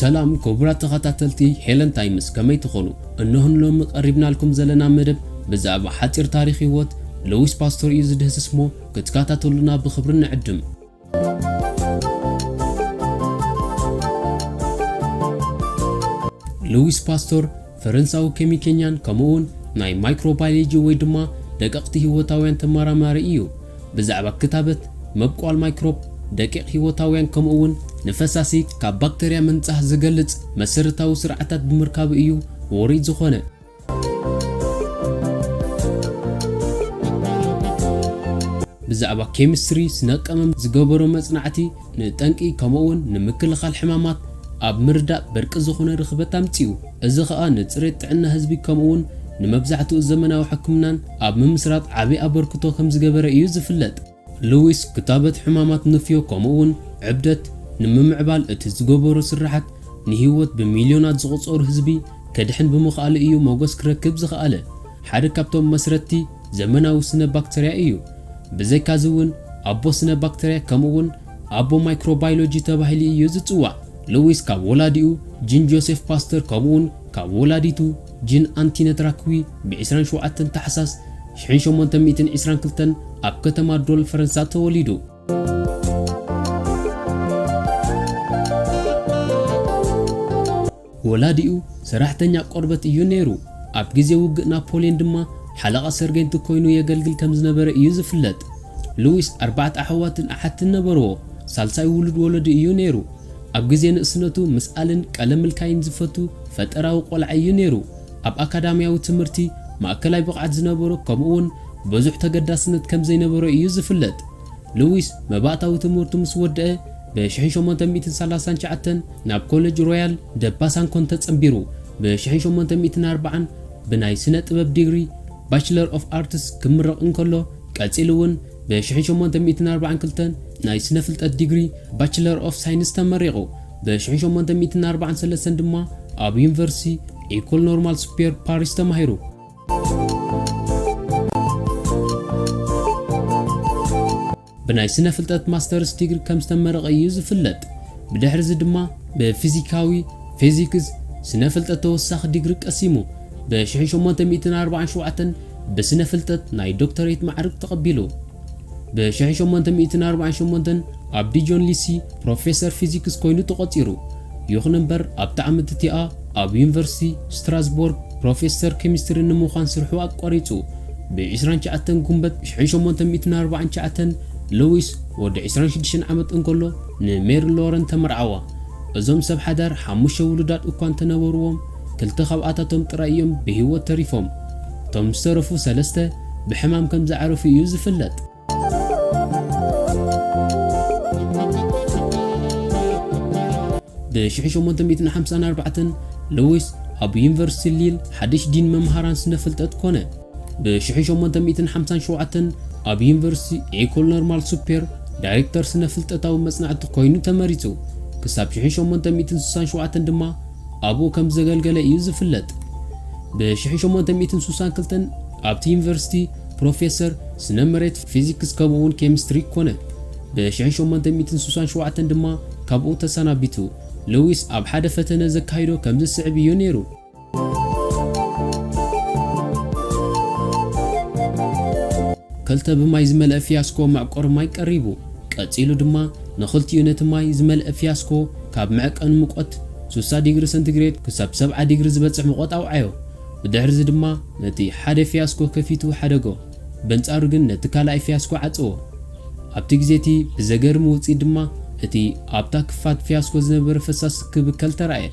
ሰላም ክቡራት ተኸታተልቲ ሄለን ታይምስ ከመይ ትኾኑ? እነሆ ንሎሚ ቀሪብናልኩም ዘለና መደብ ብዛዕባ ሓጺር ታሪኽ ህይወት ሉዊስ ፓስቶር እዩ ዝድህስስ'ሞ ክትከታተሉና ብኽብሪ ንዕድም። ሉዊስ ፓስቶር ፈረንሳዊ ኬሚከኛን ከምኡውን ናይ ማይክሮባዮሎጂ ወይ ድማ ደቀቕቲ ህይወታውያን ተመራማሪ እዩ። ብዛዕባ ክታበት፣ መብቆል ማይክሮብ፣ ደቂቕ ህይወታውያን ከምኡውን ንፈሳሲ ካብ ባክተርያ ምንጻህ ዝገልጽ መሰረታዊ ስርዓታት ብምርካቡ እዩ ውሩይ ዝኾነ። ብዛዕባ ኬሚስትሪ ስነ-ቀመም ዝገበሮ መጽናዕቲ ንጠንቂ ከምኡ'ውን ንምክልኻል ሕማማት ኣብ ምርዳእ በርቂ ዝኾነ ርኽበት ኣምጺኡ። እዚ ኸኣ ንጽሬት ጥዕና ህዝቢ ከምኡ'ውን ንመብዛሕትኡ ዘመናዊ ሕክምናን ኣብ ምምስራት ዓቢ ኣበርክቶ ከምዝገበረ እዩ ዝፍለጥ። ሉዊስ ክታበት ሕማማት ንፍዮ ከምኡ'ውን ዕብደት ንምምዕባል እቲ ዝገበሮ ስርሓት ንህይወት ብሚልዮናት ዝቑጸሩ ህዝቢ ከድሕን ብምኽኣሉ እዩ ሞገስ ክረክብ ዝኸኣለ። ሓደ ካብቶም መስረትቲ ዘመናዊ ስነ ባክተርያ እዩ። ብዘይካዚ እውን ኣቦ ስነ ባክተርያ ከምኡ'ውን ኣቦ ማይክሮባይሎጂ ተባሂሉ እዩ ዝጽዋዕ። ሉዊስ ካብ ወላዲኡ ጂን ጆሴፍ ፓስተር ከምኡ'ውን ካብ ወላዲቱ፣ ጂን ኣንቲነት ራክዊ ብዒስራን ሸውዓተን ታሕሳስ ሽሕን ሸሞንተን ሚእትን ዒስራን ክልተን ኣብ ከተማ ዶል፣ ፈረንሳ ተወሊዱ። ወላዲኡ ሰራሕተኛ ቆርበት እዩ ነይሩ፣ ኣብ ግዜ ውግእ ናፖልየን ድማ ሓለቓ ሰርገንት ኰይኑ የገልግል ከም ዝነበረ እዩ ዝፍለጥ። ሉዊስ ኣርባዕተ ኣሕዋትን ኣሓትን ነበርዎ፣ ሳልሳይ ውሉድ ወለዱ እዩ ነይሩ። ኣብ ግዜ ንእስነቱ ምስኣልን ቀለም ምልካይን ዝፈቱ ፈጠራዊ ቆልዓ ኢዩ ነይሩ። ኣብ ኣካዳምያዊ ትምህርቲ ማእከላይ ብቕዓት ዝነበሮ ከምኡ'ውን በዙሕ ተገዳስነት ከም ዘይነበሮ ኢዩ ዝፍለጥ። ሉዊስ መባእታዊ ትምህርቱ ምስ ወደኣ ብሽሕን ሸሞንተ ሚእትን ሰላሳን ትሽዓተን ናብ ኮለጅ ሮያል ደ ባሳንኮን ተጸንቢሩ ብሽሕን ሸሞንተ ሚእትን ኣርባዓን ብናይ ስነ-ጥበብ ዲግሪ፣ ባችለር ኦፍ ኣርትስ፣ ክምረቕ እንከሎ ቀጺሉ'ውን ብ ሽሕን ሸሞንተ ሚእትን ኣርባዓን ክልተን ናይ ስነ ፍልጠት ዲግሪ ባችለር ኦፍ ሳይንስ ተመሪቑ። ብ ሽሕን ሸሞንተ ሚእትን ኣርባዓን ሰለስተን ድማ ኣብ ዩኒቨርሲቲ ኤኮል ኖርማል ሱፒየር ፓሪስ ተማሂሩ። ብናይ ስነ ፍልጠት ማስተርስ ዲግሪ ከም ዝተመረቐ እዩ ዝፍለጥ። ብድሕርዚ ድማ ብ ፊዚካዊ፣ Physics፣ ስነ ፍልጠት ተወሳኺ ዲግሪ ቀሲሙ። ብ ሽሕን ሸሞንተ ሚእትን ኣርባዓን ሸውዓተን ብስነ ፍልጠት ናይ ዶክተሬት ማዕርግ ተቐቢሉ። ብ ሽሕን ሸሞንተ ሚእትን ኣርባዓን ሸሞንተን ኣብ ዲጆን ሊሲ ፕሮፌሰር ፊዚክስ ኮይኑ ተቖጺሩ። ይኹን እምበር ኣብታ ዓመት እቲኣ ኣብ ዩኒቨርሲቲ ስትራስቦርግ ፕሮፌሰር ኬሚስትሪ ንምዃን ስርሑ ኣቋሪጹ። ብ ዕስራን ትሽዓተን ጉንበት ሽሕን ሸሞንተ ሚእትን ኣርባዓን ትሽዓተን ሉዊስ ወዲ ዕስራን ሽዱሽተን ዓመት እንከሎ ንሜሪ ሎረን ተመርዓዋ። እዞም ሰብ ሓዳር ሓሙሽተ ውሉዳት እኳ እንተነበርዎም፣ ክልተ ካብኣታቶም ጥራይ እዮም ብህይወት ተሪፎም። እቶም ዝተረፉ ሰለስተ ብሕማም ከም ዝዓረፉ እዩ ዝፍለጥ። ብሽሕ ሸሞንተ ሚእትን ሓምሳን ኣርባዕተን፣ ሉዊስ ኣብ ዩኒቨርሲቲ ሊል ሓድሽ ዲን መምሃራን ስነ-ፍልጠት ኰነ። ብ ሽሕን ሸሞንተ ሚእትን ሓምሳን ሸውዓተን ኣብ ዩኒቨርሲቲ ኤኮል ኖርማል ሱፔር ዳይሬክተር ስነ ፍልጠታዊ መጽናዕቲ ኰይኑ ተመሪጹ። ክሳብ ሽሕን ሸሞንተ ሚእትን ስሳን ሸውዓተን ድማ ኣብኡ ከም ዘገልገለ እዩ ዝፍለጥ። ብ ሽሕን ሸሞንተ ሚእትን ስሳን ክልተን ኣብቲ ዩኒቨርሲቲ ፕሮፌሰር ስነ መሬት፣ ፊዚክስ ከምኡ'ውን ኬሚስትሪ ኰነ። ብ ሽሕን ሸሞንተ ሚእትን ስሳን ሸውዓተን ድማ ካብኡ ተሰናቢቱ። ሉዊስ ኣብ ሓደ ፈተነ ዘካይዶ ከምዚ ዝስዕብ እዩ ነይሩ። ክልተ ብማይ ዝመልአ ፍያስኮ መዕቈሪ ማይ ቀሪቡ። ቀጺሉ ድማ ንኽልቲኡ ነቲ ማይ ዝመልአ ፍያስኮ ካብ መዕቀኑ ሙቐት ስሳ ዲግሪ ሰንቲግሬድ ክሳብ ሰብዓ ዲግሪ ዝበጽሕ ሙቐት ኣውዓዮ። ብድሕርዚ ድማ ነቲ ሓደ ፍያስኮ ከፊቱ ሓደጎ። በንጻሩ ግን ነቲ ካልኣይ ፍያስኮ ዓጸዎ። ኣብቲ ግዜ እቲ ብዘገርም ውጽኢት ድማ እቲ ኣብታ ክፋት ፍያስኮ ዝነበረ ፈሳሲ ክብከል ተራእየ።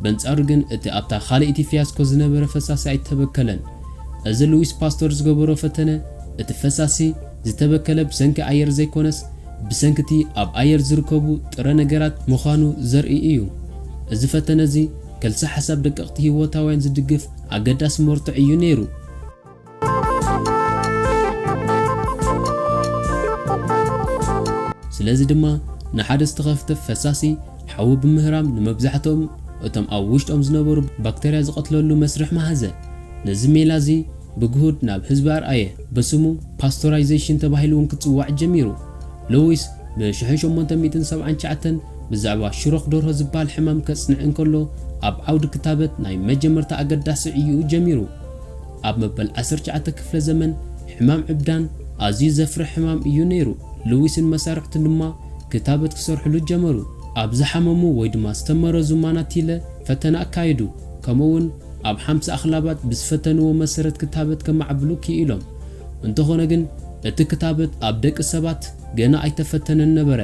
በንጻሩ ግን እቲ ኣብታ ካልኣይቲ ፍያስኮ ዝነበረ ፈሳሲ ኣይተበከለን። እዚ ሉዊስ ፓስቶር ዝገበሮ ፈተነ እቲ ፈሳሲ ዝተበከለ ብሰንኪ ኣየር ዘይኮነስ ብሰንኪ እቲ ኣብ ኣየር ዝርከቡ ጥረ ነገራት ምዃኑ ዘርኢ እዩ። እዚ ፈተነ እዚ ከልሰ ሓሳብ ደቀቕቲ ህይወታውያን ዝድግፍ ኣገዳሲ መርትዖ እዩ ነይሩ። ስለዚ ድማ ንሓደ ዝተኸፍተፍ ፈሳሲ ሓዊ ብምህራም ንመብዛሕትኦም እቶም ኣብ ውሽጦም ዝነበሩ ባክተርያ ዝቐትለሉ መስርሕ መሃዘ። ነዚ ሜላ እዚ ብግሁድ ናብ ህዝቢ ኣርኣየ፣ ብስሙ ፓስቶራይዜሽን ተባሂሉ እውን ክጽዋዕ ጀሚሩ። ሎዊስ ብ1879 ብዛዕባ ሽሮኽ ደርሆ ዝበሃል ሕማም ከጽንዕ እንከሎ ኣብ ዓውዲ ክታበት ናይ መጀመርታ ኣገዳሲ ዕዩኡ ጀሚሩ። ኣብ መበል ዓሰርተ ትሽዓተ ክፍለ ዘመን ሕማም ዕብዳን ኣዝዩ ዘፍርሕ ሕማም እዩ ነይሩ፣ ሉዊስን መሳርሕቱን ድማ ክታበት ክሰርሑሉ ጀመሩ። ኣብ ዝሓመሙ ወይ ድማ ዝተመረዙ ማናቲለ ፈተነ ኣካየዱ፣ ከምኡ'ውን ኣብ ሓምሳ ኣኽላባት ብዝፈተንዎ መሰረት ክታበት ከማዕብሉ ክኢሎም። እንተኾነ ግን እቲ ክታበት ኣብ ደቂ ሰባት ገና ኣይተፈተነን ነበረ።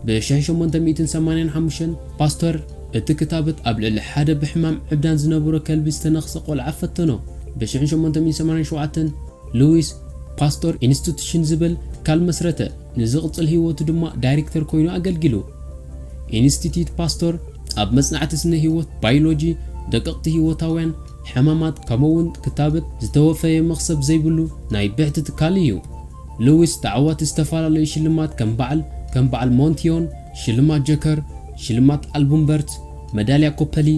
ብሸሕ ሸሞንተ ሚእትን ሰማንያን ሓሙሽተን ፓስተር እቲ ክታበት ኣብ ልዕሊ ሓደ ብሕማም ዕብዳን ዝነበሮ ከልቢ ዝተነኽሰ ቆልዓ ፈተኖ። ብሽሕ ሸሞንተ ሚእትን ሰማንያን ሸውዓተን ሉዊስ ፓስቶር ኢንስቲቱሽን ዝበል ትካል መስረተ፣ ንዝቕጽል ህይወቱ ድማ ዳይሬክተር ኮይኑ ኣገልጊሉ። ኢንስቲትዩት ፓስቶር ኣብ መጽናዕቲ ስነ ህይወት፣ ባይሎጂ፣ ደቀቕቲ ህይወታውያን፣ ሕማማት ከምኡ'ውን ክታብት ዝተወፈየ መኽሰብ ዘይብሉ ናይ ብሕቲ ትካል እዩ። ሉዊስ ተዓዋቲ ዝተፈላለዩ ሽልማት ከም በዓል ከም በዓል ሞንቲዮን፣ ሽልማት ጀከር፣ ሽልማት ኣልቡምበርት፣ መዳልያ ኮፐሊ፣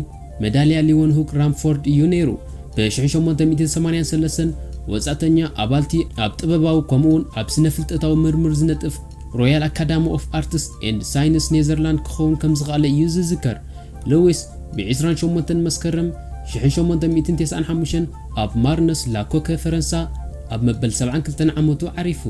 መዳልያ ሊወንሁክ ራምፎርድ እዩ ነይሩ። ብ ሽሕን ሸሞንተ ሚእትን ሰማንያን ሰለስተን ወጻእተኛ ኣባል'ቲ ኣብ ጥበባዊ ከምኡ'ውን ኣብ ስነ-ፍልጠታዊ ምርምር ዝነጥፍ ሮያል ኣካዳሚ ኦፍ ኣርትስ ኤንድ ሳይንስ ኔዘርላንድ ክኸውን ከም ዝኸኣለ እዩ ዝዝከር። ሉዊስ ብ ዕስራን ሸሞንተን መስከረም ሽሕን ሸሞንተ ሚእትን ተስዓን ሓሙሽተን ኣብ ማርነስ ላ ኮከ ፈረንሳ ኣብ መበል ሰብዓን ክልተን ዓመቱ ዓሪፉ።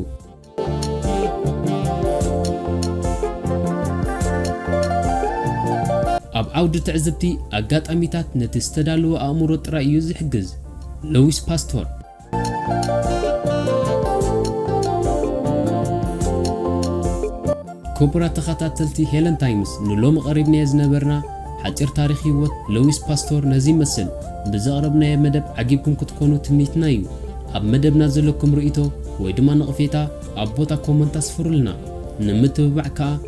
ኣብ ዓውዲ ትዕዝብቲ ኣጋጣሚታት ነቲ ዝተዳለወ ኣእምሮ ጥራይ እዩ ዝሕግዝ። ሉዊስ ፓስቶር። ክቡራት ተኸታተልቲ ሄለን ታይምስ ንሎሚ ቐሪብናዮ ዝነበርና ሓጺር ታሪኽ ህይወት ለዊስ ፓስቶር ነዚ ይመስል። ብዘቕረብናዮ መደብ ዓጊብኩም ክትኮኑ ትምኒትና እዩ። ኣብ መደብና ዘለኩም ርእይቶ ወይ ድማ ነቕፌታ ኣብ ቦታ ኮመንት ኣስፍሩልና። ንምትብባዕ ከኣ